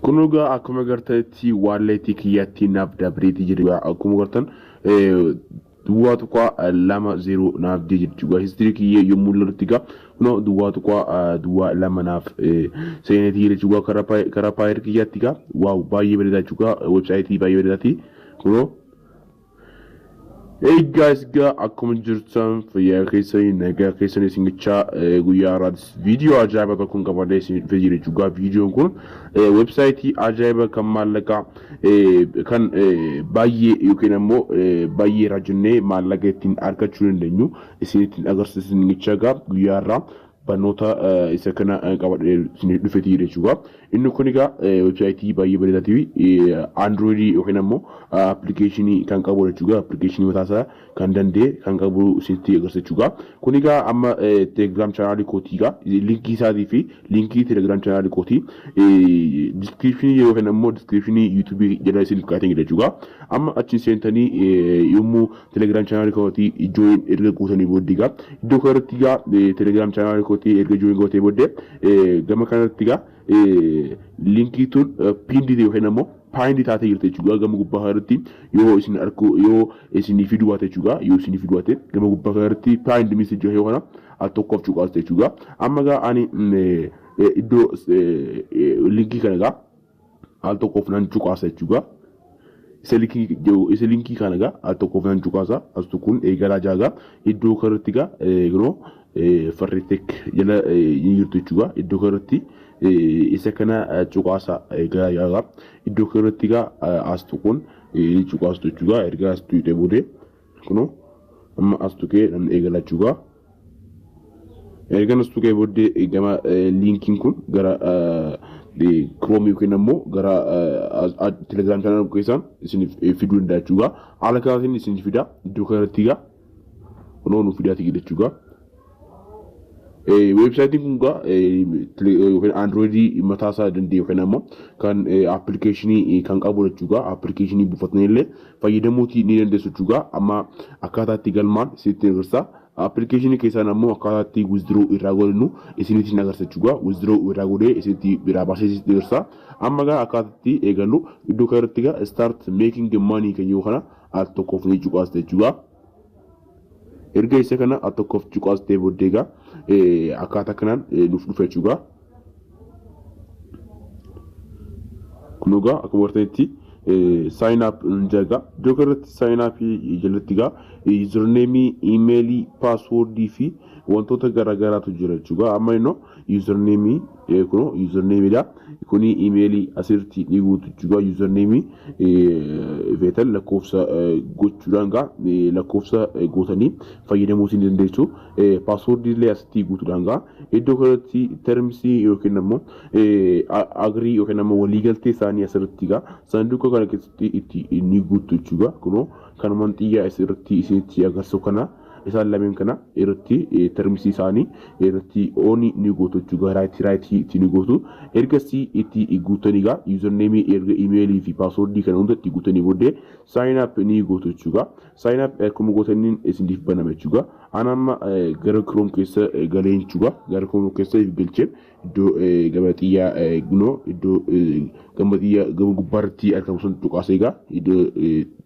Kunoo gaa akkuma gartanitti waalleetii kiyyatti naaf dabreetii jiru gaa akkuma gartan duwwaa tuqaa lama zeeroo naaf dee jirti gaa histirii kiyyee yommuu lalutti gaa kunoo duwwaa tuqaa duwwaa lama naaf seenetii jirti gaa karaa paayir kiyyatti gaa waaw baay'ee bareedaa jechuudha websaayitii baay'ee bareedaati kunoo Hey guys gaa akkuma jirtan fayyaa keessanii nagaa keessanii isin gachaa guyyaa har'aatis viidiyoo ajaa'ibaa tokkoon qabadee isin dhufee jira jechuudha. Viidiyoon kun weebsaayitii ajaa'ibaa kan maallaqaa kan baay'ee yookiin ammoo baay'ee irraa jennee maallaqa ittiin argachuu dandeenyu isin ittiin agarsiisu isin gachaa gaa guyyaa har'aa barnoota isa kana qabadhe isiniif dhufetii jechuudha. Inni kun egaa weebsaayitii baay'ee bareedaa ta'e Android yookiin ammoo appilikeeshinii kan qabu jechuudha. Appilikeeshinii mataa isaa kan danda'e kan qabu isinitti agarsiisa jechuudha. Kun egaa amma telegiraam chaanaalii kootii egaa linkii isaatii fi linkii telegiraam chaanaalii kootii diskiripshinii yookiin ammoo diskiripshinii yuutuubii jala isiniif kaa'ee jira jechuudha. Amma achiin seentanii yommuu Telegram channel kooti join erga guutanii booddee egaa iddoo kanarratti egaa eh, telegram channel kooti erga join gootee booddee eh, gama kanarratti egaa eh, linkii tun eh, pinned ta'e yookiin ammoo pinned taatee jirti jechuudha gama gubbaa kanarratti yoo isin arku yoo isinii fiduu baate jechuudha yoo isinii fiduu baate gama gubbaa kanarratti pinned message yoo kana al tokkoof cuqaasta jechuudha amma egaa ani mm, eh, eh, iddoo eh, eh, linkii kana egaa al tokkoof nan cuqaasa jechuudha. Isa linkii jedhu isa linkii kana egaa al tokkoof nan cuqaasa astu kun eegalaa jaagaa iddoo kanarratti egaa kunoo farriitek jala ni jirtu jechuudha. Iddoo kanarratti isa kana cuqaasa eegalaa jaagaa iddoo kanarratti egaa astu kun ni cuqaastu jechuudha. Erga astu hidhee boodee. Kuno amma as tuqee namni eegalaa jechuudha. Ergan as tuqee booddee gama liinkiin kun gara Chrome yookiin ammoo gara Telegram channel keessaan isiniif fiduu danda'a jechuudha. Haala kanaatiin isiniif fida iddoo kanarratti egaa kunoo nu fidaati jechuudha. Weebsaayitiin kun gaa yookiin Androidii mataa isaa danda'e yookiin ammoo kan appilikeeshinii kan qabu jechuudha. Appilikeeshinii buufatanii illee fayyadamuutii ni dandeessu jechuudha. Amma akkaataa itti galmaan isinitti agarsiisa. Appilikeeshinii keessaan ammoo akkaataa itti withdraw irraa godhinu isinitti hin agarsiisa jechuudha. Withdraw irraa godhee isinitti biraa baasee isinitti agarsiisa. Amma gaa akkaataa itti eegallu iddoo kana irratti gaa start making money kan jiru kana al tokkoof ni cuqaasta jechuudha. erga isa kana a tokkoof cuqaas ta'e booddee egaa akkaataa kanaan nuuf dhufe jechuudha. Kun egaa akkuma bartanitti sign up jaga iddoo kanarratti sign up jalatti egaa username, email, password fi wantoota garaagaraatu jira jechuudha. Amma innoo username eh, kuno username da kuni email asirti ni guutu juga username eh, feetan lakkoofsa eh, gochuudhaan gaa eh, lakkoofsa eh, gootanii fayyadamuu isin dandeessu eh, password illee asitti guutuudhaan gaa iddoo kanatti terms yookiin ammoo eh, a- agree yookiin ammoo waliigaltee isaanii asirratti gaa saanduqa kana keessatti itti ni guutu juga kuno kanumaan xiyyaa asirratti isinitti agarsiisu kana isaan lameen kana irratti termsii isaanii irratti ooni ni gootu jechuudha raayitii raayitii itti ni gootu ergasii itti guutanii egaa yuuzarneemii erga imeelii fi paaswordii kana hunda itti guutanii booddee saayinaap ni gootu jechuudha saayinaap akkuma gootaniin isiniif banama jechuudha an amma gara kiroom keessa galee jechuudha gara kiroom keessa galcheen iddoo gama xiyyaa gunoo iddoo gama xiyya gama gubbaarratti argamu sun cuqaasee egaa iddoo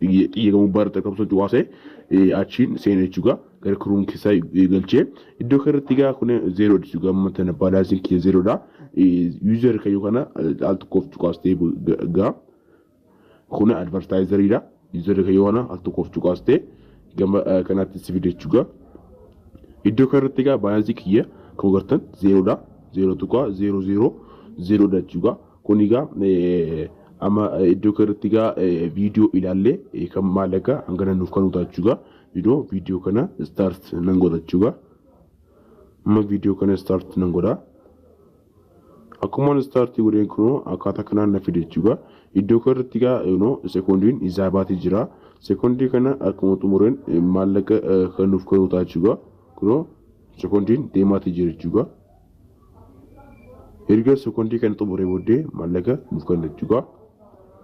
xiyya gama gubbaarratti argamu sun cuqaasee achiin seena jechuudha gara kiruun keessaa galchee iddoo kanarratti egaa kun zeeroo jechuudha amma tana baalaansiin kiyya zeeroodha yuuzar kayyoo kana al tokkoof cuqaastee egaa Kuni advertiser dha. User kan yoo kana al tokkoof cuqaaste gama kanaatti si fide jechuudha. Iddoo kanarratti egaa balance kiyya akkuma gartan zeeroo dha. Zeeroo tuqaa zeeroo zeeroo zeeroo dha jechuudha. Kun egaa amma iddoo kanarratti egaa viidiyoo ilaallee kan maallaqa hangana nuuf kan utaa jechuudha. Viidiyoo viidiyoo kana start nan godha jechuudha. Amma viidiyoo kana start nan godha. Akkuman start godheen kunoo akkaataa kanaan na fide jechuudha. Iddoo kana irratti egaa kunoo sekoondiin izaa baatee jira. Sekoondii kana akkuma xumureen maallaqa kan nuuf galuu ta'a jechuudha. Kunoo sekoondiin deemaatii jira jechuudha. Erga sekoondii kana xumuree booddee maallaqa nuuf kenna jechuudha.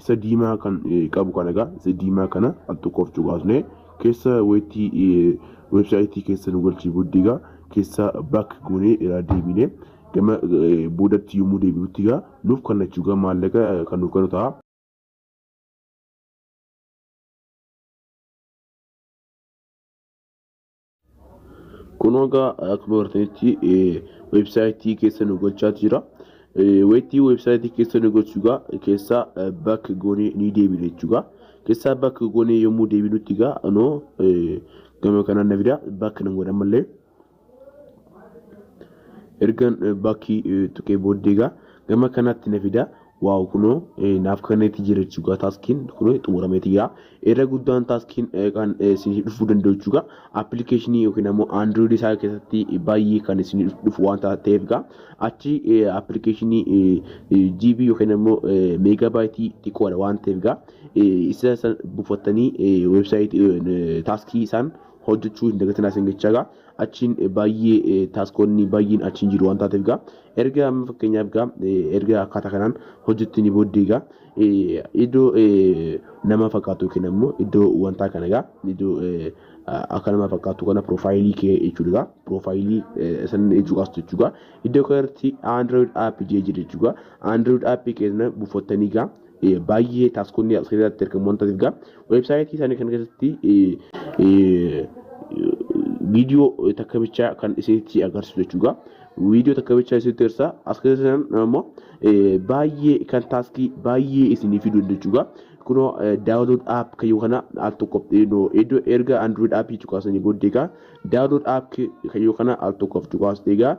Isa diimaa kan qabu kana egaa isa diimaa kana al tokkoof cuqaasnee keessa weetii weebsaayitii keessa nu galchii booddee egaa keessa baak goonee irraa deebinee gama boodatti yommuu deebi'utti egaa nuuf kannachuu egaa maallaqa kan nuuf kennu ta'a. Kunoo egaa akkuma bartanitti weebsaayitii keessa nu gochaa jira. Weettii weebsaayitii keessa nu gochuu egaa keessaa bakka goonee ni deebina jechuudha. Keessaa bakka goonee yommuu deebinutti egaa anoo gama kanaan na fida bakka nan godha malee. Ergan bakkii tuqee booddee egaa gama kanaatti na fida. Wow kuno naaf kaneeti jira jechuudha taaskiin kuno xumurameeti jira irra guddaan taaskiin kan isinii dhufuu danda'u jechuudha appilikeeshinii yookiin ammoo android isaa keessatti baay'ee kan isinii dhufu waan ta'eef gaa achi appilikeeshinii GB yookiin ammoo meegabaayitii xiqqoodha waan ta'eef gaa isa san buufattanii weebsaayitii taaskii isaan hojjechuu hin dagatinaa isin jechaa gaa achiin baay'ee taaskoonni baay'een achiin jiru waan taateef gaa Erga amma fakkeenyaaf egaa erga akkaataa kanaan hojjettanii booddee egaa iddoo nama fakkaatu yookiin ammoo iddoo wantaa kana egaa iddoo akka nama fakkaatu kana piroofaayilii kee jechuudha egaa piroofaayilii san cuqaastu jechuudha iddoo kanatti android app jee jira jechuudha android app keenya buufattanii egaa baay'ee taaskoonni as keessatti argamu waan ta'eef egaa weebsaayitii isaanii kana keessatti viidiyoo takka bichaa kan isinitti agarsiisu jechuudha. Viidiyoo takka bichaa isinitti agarsiisa. As keessatti immoo baay'ee kan taaskii baay'ee isinii fiduu danda'u jechuudha. Kunoo daawunlood app kayyoo kana al tokko iddoo erga android app cuqaasanii booddee egaa Download app kayyoo kana al tokko of cuqaas egaa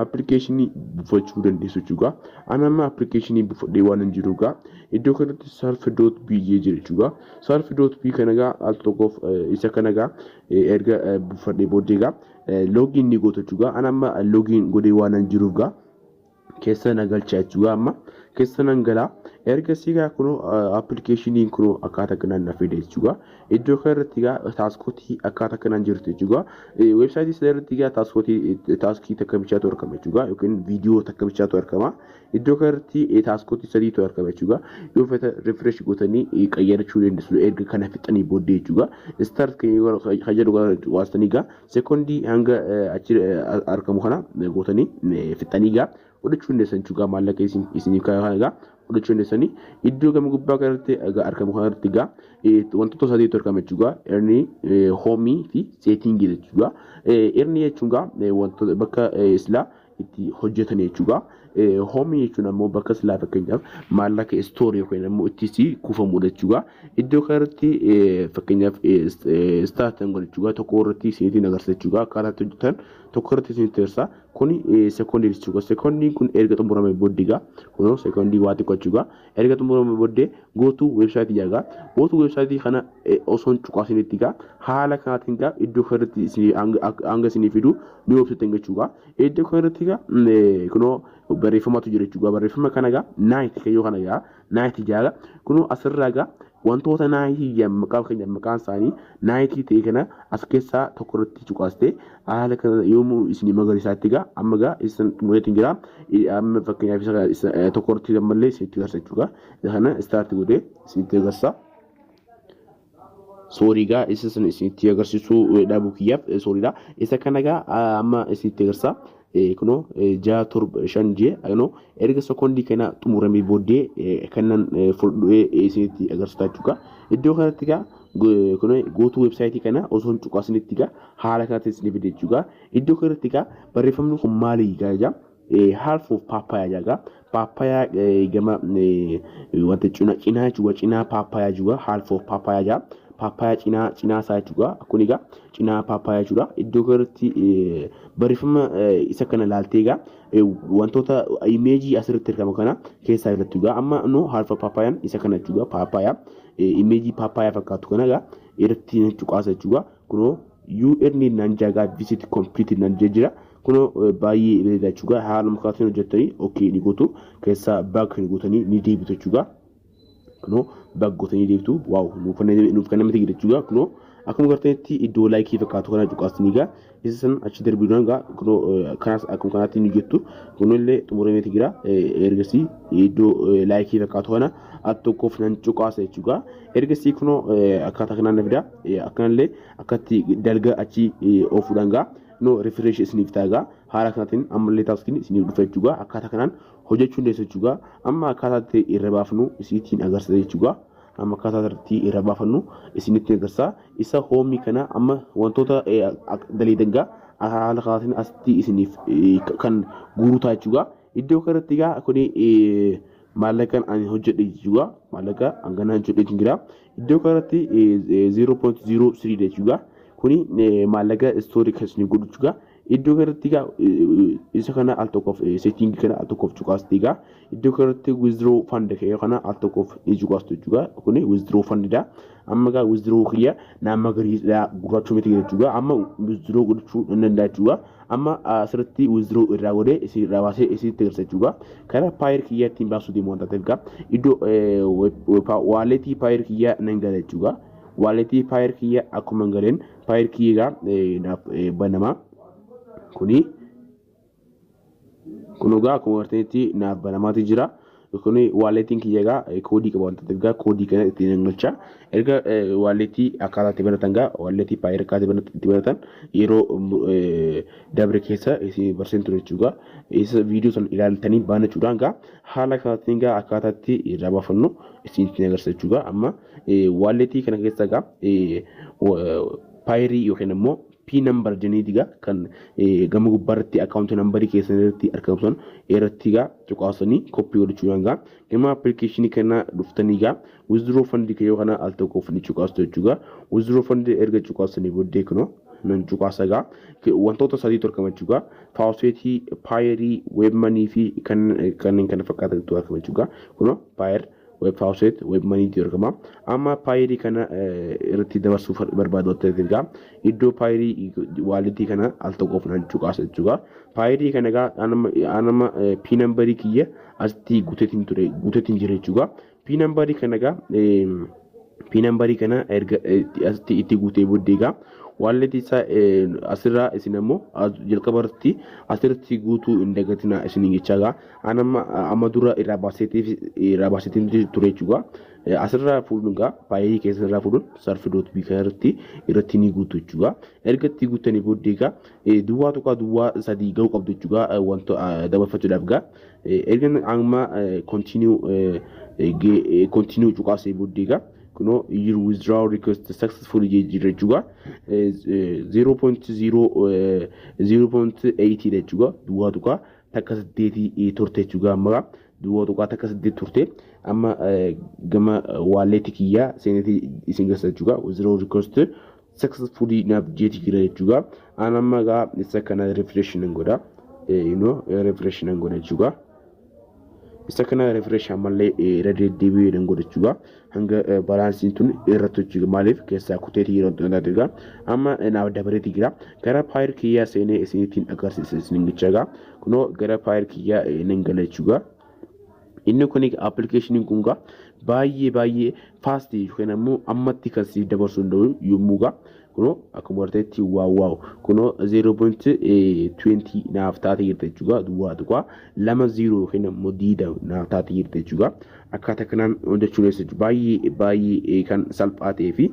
appilikeeshinii buufachuu dandeessu jechuudha. Ani amma appilikeeshinii buufadhee waan hin jiru egaa iddoo kanatti sarf doot bii jee jira jechuudha. Sarf doot bii kana egaa al tokkoof isa kana egaa erga buufadhee booddee egaa loogiin ni goota jechuudha. Ani amma loogiin godhee waan hin jiruuf egaa keessa na galchaa jechuudha amma keessa nan galaa erga siigaa kunoo appilikeeshiniin kunoo akkaata kanaan na fide jechuudha iddoo kana irratti egaa taaskootii akkaata kanaan jirti jechuudha weebsaayitii sana irratti egaa taaskootii taaskii takka bichaatu argama jechuudha yookiin viidiyoo takka bichaatu argama iddoo kana irratti taaskootii sadiitu argama jechuudha yoo fedha rifresh gootanii qayyarachuu dandeessu erga kana fixanii booddee jechuudha istaart kan jedhu waan sanigaa Sekondii hanga achi argamu kana gootanii fixxanii egaa fudhachuu dandeessan jechuudha. Maallaqa isiniif kaa'e kana egaa fudhachuu dandeessanii iddoo gama gubbaa kanarratti egaa argamu kanarratti egaa wantoota sadiitu argama jechuudha. Erni hoomii fi seetiingii jechuudha. Erni jechuun egaa wantoota bakka silaa itti hojjetan jechuudha. Hoomii jechuun ammoo bakka silaa fakkeenyaaf maallaqa istoorii yookiin ammoo itti kuufamudha jechuudha. Iddoo kanarratti fakkeenyaaf istaatan godha jechuudha. Tokko irratti isinitti agarsiisa jechuudha. Akkaataa itti hojjetan tokko irratti isinitti agarsiisa. Kuni sekoondii jechuudha. Sekoondiin kun erga xumuramee booddee egaa kunoo sekoondii waa xiqqoo jechuudha. Erga xumuramee boddee go to website jedha gaa go to website kana osoo hin cuqaasinitti gaa haala kanaatiin gaa iddoo kana irratti isin hanga isinii fidu ni website gachuu gaa iddoo kana irratti gaa kunoo barreeffamatu jira jechuudha barreeffama kana gaa night kayyoo kana gaa night jaaga kunoo asirraa gaa Wantoota Naayikii jedhan maqaa fakkeenyaaf maqaan isaanii Naayikii ta'e kana as keessaa tokko irratti cuqaastee haala kana yoomuu isin magariisaatti egaa amma egaa isin xumureetti hin jira amma fakkeenyaaf isa isa tokko irratti ammallee isinitti garsa jechuudha isa kana istaarti godhee isinitti agarsa. Soorii egaa isa sana isinitti agarsiisuu dhaabuu kiyyaaf sooriidha isa kana egaa amma isinitti agarsa Kunoo ja'a torba shan jee kunoo erga sekondii kana xumuramee booddee kanan fuldhee isinitti agarsiisaa jechuudha. Iddoo kanatti gaa kunoo gootuu weebsaayitii kana osoo hin cuqaasinitti gaa haala kanatti isin fide jechuudha. Iddoo kanatti gaa barreeffamni kun maali gaa jaa half of papaya jaa gaa Paappayaa gama wanta cina cinaa jechuudha. Cinaa paappayaa jechuudha. Half of paappayaa jaa. Paappayaa cinaa cinaa isaa jechuudha. Kun egaa cinaa paappayaa jechuudha. Iddoo kanatti barreeffama isa kana ilaaltee egaa wantoota imeejii asirratti argamu kana keessaa irratti egaa amma nu half of paappaayaan isa kana jechuudha. Paappayaa imeejii paappayaa fakkaatu kana egaa irratti cuqaasa jechuudha. kunoo UN nan jagaa visit complete nan jee jira kunoo eh, baay'ee bareeda jechuudha haaluma kaatiin hojjettanii okay ni gootu keessaa baag kan gootanii ni deebitu jechuudha kunoo baag gootanii deebitu waaw nuuf kan nuuf kan namatti gida jechuudha kunoo akkuma gartanitti iddoo laayikii fakkaatu kana cuqaasanii gaa isa san achi darbiidhaan gaa kunoo eh, kanas akkuma kanaatti ni jettu kunoo illee xumurameeti jira eh, ergasii iddoo eh, laayikii fakkaatu kana at tokkoof nan cuqaasa jechuudha. Erga sii kunoo akkaataa kanaan na fidaa akkanallee akkatti dalga achi oofuudhaan gaa no refresh isiniif taagaa haala kanaatiin ammallee taaskiin isiniif dhufa jechuudha. Akkaataa kanaan hojjechuu dandeessu jechuudha. Amma akkaataa itti irra baafnu isiitiin agarsiisa jechuudha. Amma akkaataa irratti irra baafannu isinitti agarsiisa. Isa hoomii kana amma wantoota daleedan gaa haala kanaatiin asitti isiniif kan guurutaa jechuudha. Iddoo kanatti gaa kuni maallaqan ani hojjedhe jechuudha maallaqa hangana hojjedhe jechuun jira iddoo kanatti 0.03 jechuudha kuni maallaqa istoorii kan isin godhu jechuudha iddoo kanatti egaa isa kana al tokkoof seetiin kana al tokkoof cuqaasti egaa iddoo kanatti withdraw fund kee kana al tokkoof ni cuqaastu jechuudha kuni withdraw fund dha amma egaa withdraw kiyya naamma gariidha gurraachuu miti jechuudha amma withdraw godhachuu nan danda'a jechuudha Amma asirratti withdraw irraa godhee isin irraa baasee isinitti agarsiisa jechuudha. Karaa paayir kiyyaa ittiin baasuu deemu waan taateef gaa iddoo waaleetii paayir kiyyaa nan gala jechuudha. Waaleetii paayir kiyyaa akkuma hin galeen paayir kiyyaa gaa naaf banama. Kuni kun egaa akkuma artanitti naaf banamaati jira. kun waaleetiin kiyya egaa koodii qaba waan ta'eef egaa koodii kana ittiin hin galcha. Erga waaleetii akkaataa itti banatan egaa waaleetii paayir akkaataa banatan itti banatan yeroo dabre keessa isin barsiin ture jechuudha. Isa viidiyoo sana ilaaltanii banachuudhaan egaa haala kanaatiin egaa akkaataa itti irraa baafannu isin ittiin agarsiisa jechuudha. Amma waaleetii kana keessa egaa paayirii yookiin immoo Pin number jeniiti gaa kan gama gubbaa irratti account number keessan irratti argamu san irratti gaa cuqaasanii copy godhachuudhaan gaa gama application kana dhuftanii gaa withdraw fund kee yoo kana al tokkoof ni cuqaastu jechuu gaa withdraw fund erga cuqaasanii booddee kunoo nan cuqaasa gaa wantoota sadiitu argama jechuu gaa faawuseetii paayerii weebmanii fi kanneen kana fakkaatan tu argama jechuu gaa kunoo paayer web faucet web money ti argama amma paayilii kana irratti dabarsuu barbaadu ta'eef egaa iddoo paayilii waalitii kana al tokkoof nan cuqaasa jechuudha paayilii kana egaa anama pii nambarii kiyya asitti guuteetiin ture guuteetiin jira jechuudha pii nambarii kana egaa pii nambarii kana erga asitti itti guutee booddee egaa waalleetii isaa asirraa isin ammoo jalqaba irratti asirratti guutuu hin dagatinaa isin jechaa egaa An amma amma dura irraa baaseetiif irraa baaseetiin ture jechuudha. Asirraa fuudhuun egaa faayilii keessan irraa fuudhuun sarfi doot bii kana irratti irratti ni guutu jechuudha. Erga itti guuttanii booddee egaa duwwaa tokko duwwaa sadii ga'uu qabdu jechuudha wanta dabarfachuudhaaf egaa. Erga amma kontinuu kontinuu cuqaasee booddee egaa kunoo your withdrawal request successful jira jechuudha. 0.0 0.8 jechuudha duwwaa tokko takka saddeetii turte jechuudha amma gaa duwwaa tuqaa takka saddeet turte amma gama waalleetti kiyyaa seenetti isin gassa jechuudha zero request successfully naaf jeeti jira jechuudha aan amma gaa isa kana refresh nan godha ino refresh nan godha jechuudha isa kana refresh ammallee irra deddeebi'ee nan godha jechuudha hanga baalaansiin tun irratti hojjii maaliif keessaa kuteetii yeroo xinataatu egaa amma naaf dabareeti jira gara paayir kiyyaa seenee isinitiin agarsiisa isinin jecha egaa kunoo gara paayir kiyyaa nan gala jechuudha. Inni kun appilikeeshiniin kun egaa baay'ee baay'ee faastii yookiin ammoo ammatti kan siif dabarsuu danda'u yommuu egaa kunoo akkuma arteetti waaw waaw kunoo 0.20 naaf taate jirti jechuudha duwwaa tuqaa lama 0 yookiin ammoo diida naaf taate jirti jechuudha akkaataa kanaan hojjechuu dandeessu baay'ee baay'ee kan salphaa ta'ee fi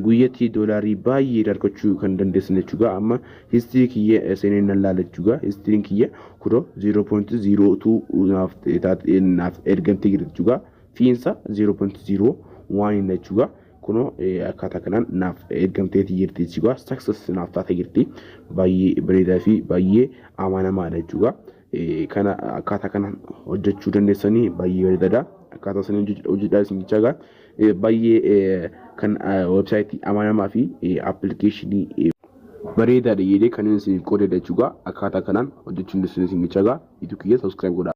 guyyatti doolaarii baay'ee dargachuu kan dandeessan jechuudha amma histirii kiyya seeneen nan laala jechuudha histiriin kiyya kunoo 0.02 naaf taate naaf ergamtee jirti jechuudha fiinsa 0.0 waan hin jechuudha. kunoo akkaataa kanaan naaf ergamteeti jirti jechuudha. Success naaf taate jirti. Baay'ee bareedaa fi baay'ee amanamaadha jechuudha. Kana akkaataa kanaan hojjechuu dandeessanii baay'ee bareedaadha. Akkaataa isin hojjedhaa isin jechaa egaa baay'ee kan websaayitii amanamaa fi appilikeeshinii bareedaadha jedhee kan inni isin qoodedha jechuudha. Akkaataa kanaan hojjechuu dandeessanii isin jechaa egaa ituu kiyya subscribe godhaa.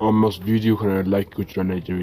Ammas viidiyoo kana like gochuudhaan na jajjabeessaa.